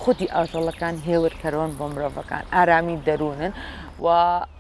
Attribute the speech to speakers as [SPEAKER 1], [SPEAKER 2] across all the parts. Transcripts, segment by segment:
[SPEAKER 1] خودی ئاژەڵەکان هێورکەرەوەن بۆ مرۆڤەکان ئارامی دەروونن و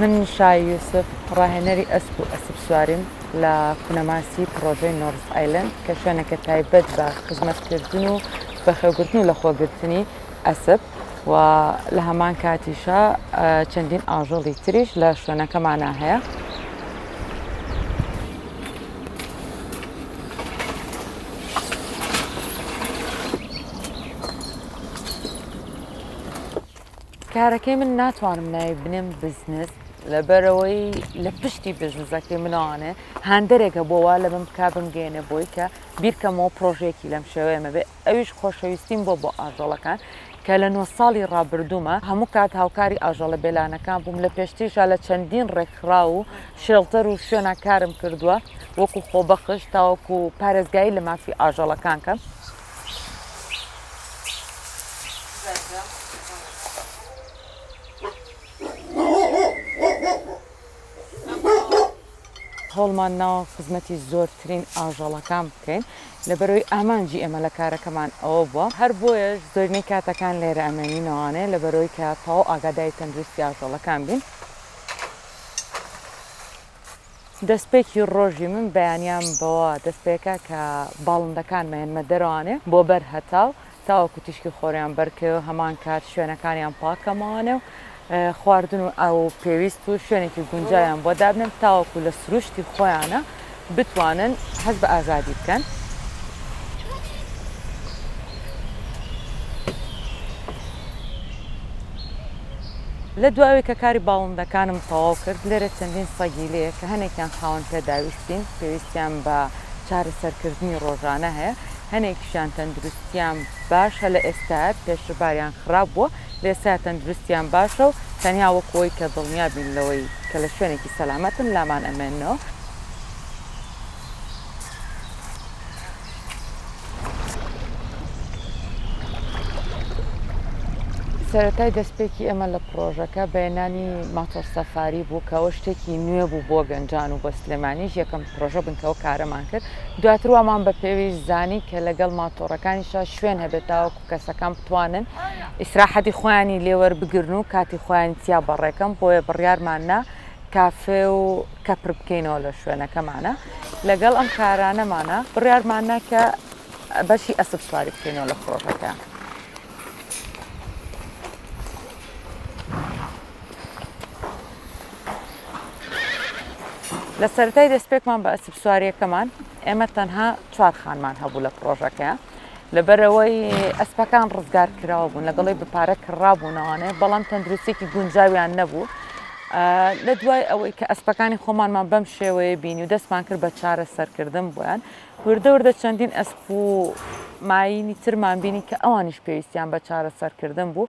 [SPEAKER 1] من شای یوسف، ڕاهێنەری ئەسپ و ئەسپسواریم لە کونەماسی پڕۆژەی نۆرس ئایلەند کە شوێنێکە تایبەت بە خزمەتکردن و بەخێوگرتن و لەخۆگرتنی ئەسپ و لە هەمان کاتیشا چەندین ئاژەڵی تریش لە شوێنەکەمانا هەیە. کارەکەی من ناتوانم ناوی بنێم بزنس لەبەرەوەی لە پشتی بزنسەکەی منەوانێ هاندەرێکە بۆ وا لە من بک بمگەێنێ بۆی کە بیرکەمەوە پرۆژێکی لەم شێوەیەمە بێ ئەویش خۆشەویستیم بۆ بۆ ئاژەڵەکان کە لە نۆ ساڵی ڕابردوومە هەموو کات هاوکاری ئاژەڵە بێلانەکان بووم لە پێشتیشا لە چەندین ڕێکخرا و شێڵتەر و شوێنە کارم کردووە وەکو خۆبەخش تاوەکو پارێزگایی لە مافی ئاژەڵەکان کەم هەوڵمان ناوە خزمەتی زۆرترین ئاژەڵەکان بکەین لەبەرەوەی ئامانجی ئێمە لە کارەکەمان ئەوە بووە هەر بۆیەش زۆرینەی کاتەکان لێرە ئەمێنینەوانەیە لەبەرەوەی کە تەواو ئاگادای تەندروستی ئاژەڵەکان بین. دەستپێکی ڕۆژی من بەیانیان بەوە دەستپێکا کە باڵندەکان مەیەنمە دەرەوانێ بۆ بەر هەتاو تاوەکو تیشکی خۆریان بەرکەوێ و هەمان کات شوێنەکانیان پاک کەمەوانێ و خواردن و ئاو پێویست و شوێنێکی گونجاویان بۆ دابنێم تاوەکو لە سروشتی خۆیانە بتوانن هەست بە ئازادی بکەن. لە دوای کە کاری باڵندەکانم تەواو کرد، لێرە چەندین سەگی لێیە کە هەنێکیان خاوەن پێداویستین، پێویستیان بە چارەسەرکردنی ڕۆژانە هەیە، هەنێکیشیان تەندروستییان باشە لە ئێستایا، پێشتر باریان خراپ بووە، لە ئێستایا تەندروستییان باشە و تەنیا وەکو ئەوەی کە دڵنیا بین لەوەی کە لە شوێنێکی سەلامەتن لامان ئەمێننەوە. سەرەتای دەستپێکی ئێمە لە پرۆژەکە بەێنانی ماتۆر سەفاری بوو کەەوە شتێکی نوێ بوو بۆ گەنجان و بە سلێمانیش یەکەم پرۆژە بنکەوە کارەمان کرد دواتر وامان بە پێویست زانی کە لەگەڵ ماتۆڕەکانیشا شوێن هەبێت تاوەکو کەسەکان بتوانن ئیسراحەتی خۆیانی لێوەر بگرن و کاتی خۆیان تیا بەڕێکەم بۆیە بڕیارماننا کافێ و کەپر بکەینەوە لە شوێنەکەمانە لەگەڵ ئەم کارانەمانە بڕارمانە کە بەشی ئەسب سواری بکەینەوە لە فڕۆکەکە. لە سەرای دەستپێکمان بە ئەسب سواریەکەمان ئێمە تەنها چوار خانمان هەبوو لە پرۆژەکەیان لەبەرئەوەی ئەسپەکان ڕزگار کراوە بوون لەگەڵی بپارە کڕابوونەوانێ بەڵام تەندروستێکی گونجاویان نەبوو لە دوای ئەوەی کە ئەسپەکانی خۆمانمان بەم شێوەیە بینی و دەستمان کرد بە چارە سەرکردن بۆیان وردەوردە چەندین ئەسپ و ماینی ترمان بینی کە ئەوانیش پێویستیان بە چارە سەرکردن بوو.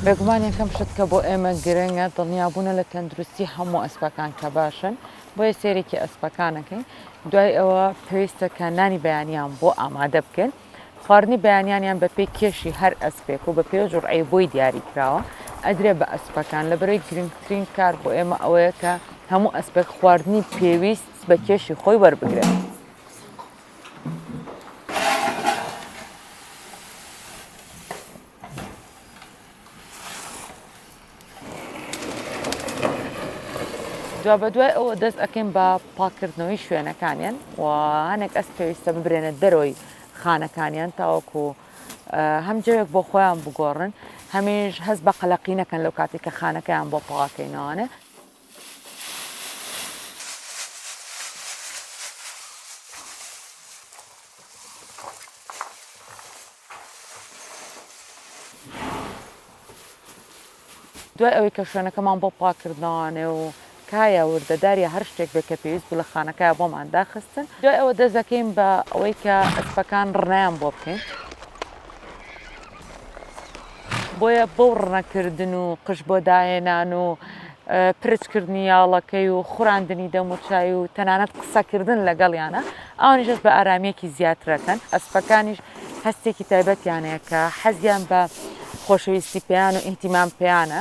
[SPEAKER 1] بێگومان یەکەم شت کە بۆ ئێمە گرنگە دڵنیابوونە لە تەندروستی هەموو ئەسپەکان کە باشن بۆیە سێرێکی ئەسپەکانەکەین دوای ئەوە پێویستە کە نانی بەیانیان بۆ ئامادە بکەین خواردنی بەیانیانیان بە پێی کێشی هەر ئەسپێک و بە پێ جوڕعی بۆی دیاری کراوە ئەدرێ بە ئەسپەکان لە بەرەی گرنگترین کار بۆ ئێمە ئەوەیە کە هەموو ئەسپێک خواردنی پێویست بە کێشی خۆی وەربگرێت. دوابەدوای ئەوە دەست ئەەکەین بە پاکردنەوەی شوێنەکانیان و هەنێک ئەس پێویستە ببرێنە دەرۆی خانەکانیان تاوەکو هەم جەوێک بۆ خۆیان بگۆڕن هەمیش هەست بە قەلەقینەکەن لەو کاتێک کە خانەکەیان بۆ پاکەینەوانێ دوای ئەوەی کە شوێنەکەمان بۆ پاکردنەوانێ و کایە وردە داریە هەر شتێک بێ کە پێویست بوو لە خانەکە بۆمان داخستن دوای ئەوە دەست دەکەین بە ئەوەی کە ئەسپەکان ڕنایان بۆ بکەین. بۆیە بەو ڕنەکردن و قژ بۆ داهێنان و پرچ کردنی یاڵەکەی و خوراندنی دەموچای و تەنانەت قسەکردن لەگەڵیانە ئەوانیشت بە ئارامیەکی زیاترەکەن ئەسپەکانیش هەستێکی تایبەتیانەیە کە حەزیان بە خۆشەویستی پێیان و ئیهتیمام پێیانە.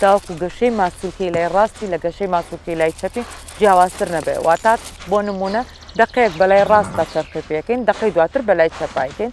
[SPEAKER 1] تاوەکو گەشەی ماسولکەی لای ڕاستی لە گەشەی ماسولکەی لای چەپی جیاوازتر نەبێ واتا بۆ نمونە دقەیەک بەلای ڕاستدا چەرخی پێکەین دقەی دواتر بەلای چەپایکەین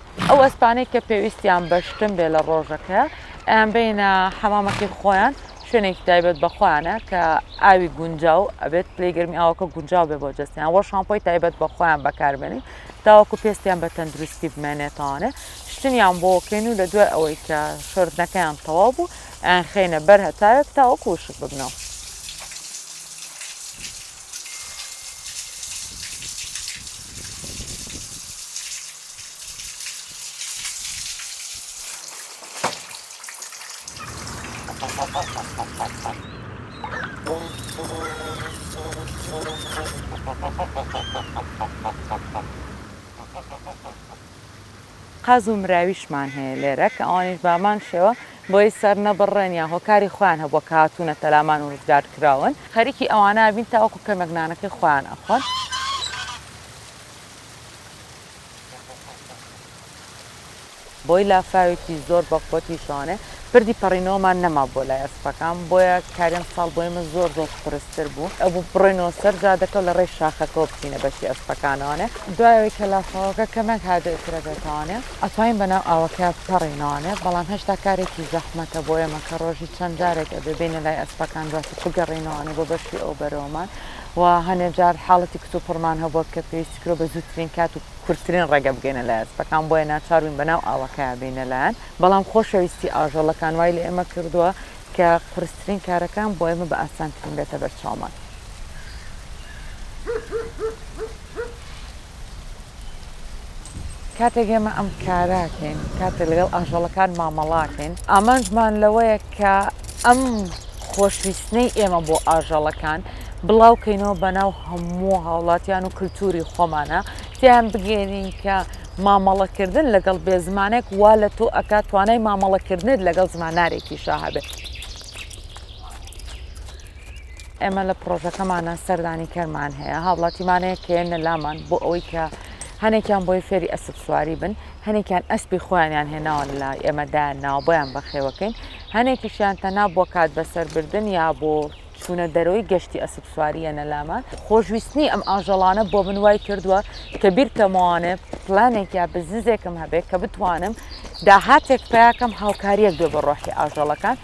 [SPEAKER 1] ئەو ئەسپانەی کە پێویستیان بە شتن بێ لە ڕۆژەک هەیە ئەیان بینە حەمامەکەی خۆیان شوێنێکی تایبەت بە خۆیانە کە ئاوی گونجاو ئەبێت پلی گەرمی ئاوەکە گونجاو بێ بۆ جستیان وە شامپۆی تایبەت بە خۆیان بەکاربێنین تاوەکو پێستیان بە تەندروستی بمێنێتانێ شتنیان بۆکەین و لە دوای ئەوەی کە شردنەکەیان تەواو بوو ئەیان خینە بەر هەتاوێک تاوەکو وشک ببنەوە قاز و مراویشمان هەیە لێرە کە ئەوانیش بەهەمان شێوە بۆی سەر نەبڕرێن یا هۆکاری خۆیان هەبووە کە هاتوونەتە لامان و ڕزگار کراون. خەریکی ئەوانە ئەبین تاوەکو کەمێک نانەکەی خۆیان ئەخۆن. بۆی لافاوێکی زۆر بە قوەتی شانێ پردی پەڕینەوەمان نەما بۆ لای ئەسپەکان بۆیە کاریم ساڵ بۆی من زۆر زۆر قورستر بوو ئەبوو بڕۆینەوە سەر جادەکە و لە ڕێی شاخەکەەوە بچینە بەشی ئەسپەکانەوانێ دوایەوەی کە لافاوەکە کەمێک هادئترە بێتانێ ئەتوانین بەناو ئاوەکە بپەڕینەوانێ بەڵام هێشتا کارێکی زەحمەتە بۆ ئێمە کە ڕۆژی چەند جارێک ئەبێ بێینە لای ئەسپەکان دواتر بگەڕێینەوانێ بۆ بەشی ئەو بەرەوەمان و هەنێ جار حاڵەتی کتوپڕمان هەبووە کە پێویستی کرۆ بە زووترین کات و کورترین ڕێگە بگەینە لای ئەسپەکان بۆیە ناچار بووین بەناو ئاوەکەیا بێینە لایان بەڵام خۆشەویستی ئاژەڵەکان وای لە ئێمە کردووە کە قورسترین کارەکان بۆ ئێمە بە ئاسانترین بێتە بەرچاومان. کاتێک ئێمە ئەم کاراکەین کاتێک لەگەڵ ئاژەڵەکان مامەڵاکەین ئامانجمان لەوەیە کە ئەم خۆشویستنەی ئێمە بۆ ئاژەڵەکان بڵاوکەینەوە بەناو هەموو هاوڵاتیان و کللتوری خۆمانە تیان بگەێنین کە مامەڵەکردن لەگەڵ بێ زمانێک وا لە تۆ ئەکات توانای مامەڵەکردنت لەگەڵ زمانارێکی شاهبێت. ئێمە لە پڕۆژەکەمانا سەردانی کەرمان هەیە هاوڵاتیمانەیە کەێنە لامان بۆ ئەوەی کە هەنێکیان بۆی فێری ئەسب سواری بن هەنێکیان ئەسپی خۆیانیان هێناوە لە ئێمەدا ناوبیان بەخێوەکەین هەنێکیشیان تەنا بۆ کات بەسەربردن یا بۆ چوونە دەرەوەی گەشتی ئەسب سواریە نەلامە خۆشویستنی ئەم ئاژەڵانە بۆ من وای کردووە کە بیرکەمەوانێ پلانێک یا بزنزێکم هەبێت کە بتوانم داهاتێک پیاکەم هاوکاریەک بێ بە ڕۆحی ئاژەڵەکان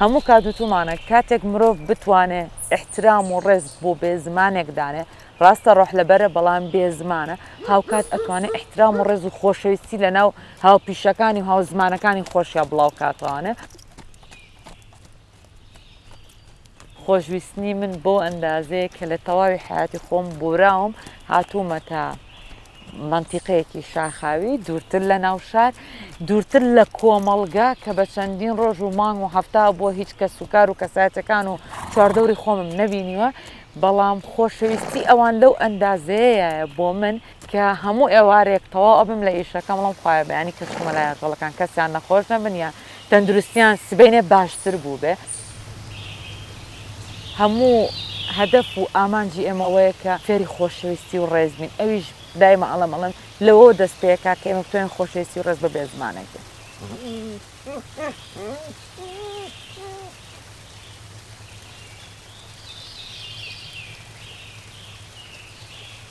[SPEAKER 1] هەموو کات وتومانە کاتێک مرۆڤ بتوانێ احترام و ڕێز بۆ بێ زمانێک دانێ ڕاستە ڕۆح لەبەرە بەڵام بێ زمانە هاوکات ئەتوانێت احترام و ڕێز و خۆشەویستی لە ناو هاوپیشەکانی و هاوزمانەکانی خۆشیان بڵاو کاتوانێ خۆشویستنی من بەو ئەندازەیە کە لە تەواوی حیاتی خۆم بوراوم هاتوومەتە منتیقەیەکی شاخاوی دوورتر لە ناوشار دوورتر لە کۆمەڵگا کە بە چەندین ڕۆژ و مانگ و هەفتا بۆ هیچ کەس و کار و کەساتەکان و چواردەوری خۆمم نەبینیوە بەڵام خۆشەویستی ئەوان لەو ئەندازەیەیە بۆ من کە هەموو ئێوارێک تەواو ئەبم لە ئیشەکەم بڵێم خوایە بەیانی کە چوومە لای ئاژەڵەکان کەسیان نەخۆش نەبن یان تەندروستیان سبەینێ باشتر بووبێ هەموو هەدەف و ئامانجی ئێمە ئەوەیە کە فێری خۆشەویستی و ڕێز بین ئەویش دایمە ئەڵێم ئەڵێم لەوەوە دەست پێکا کە ئێمە بتوانین خۆشەویستی و ڕێز بە بێزمانێک بین.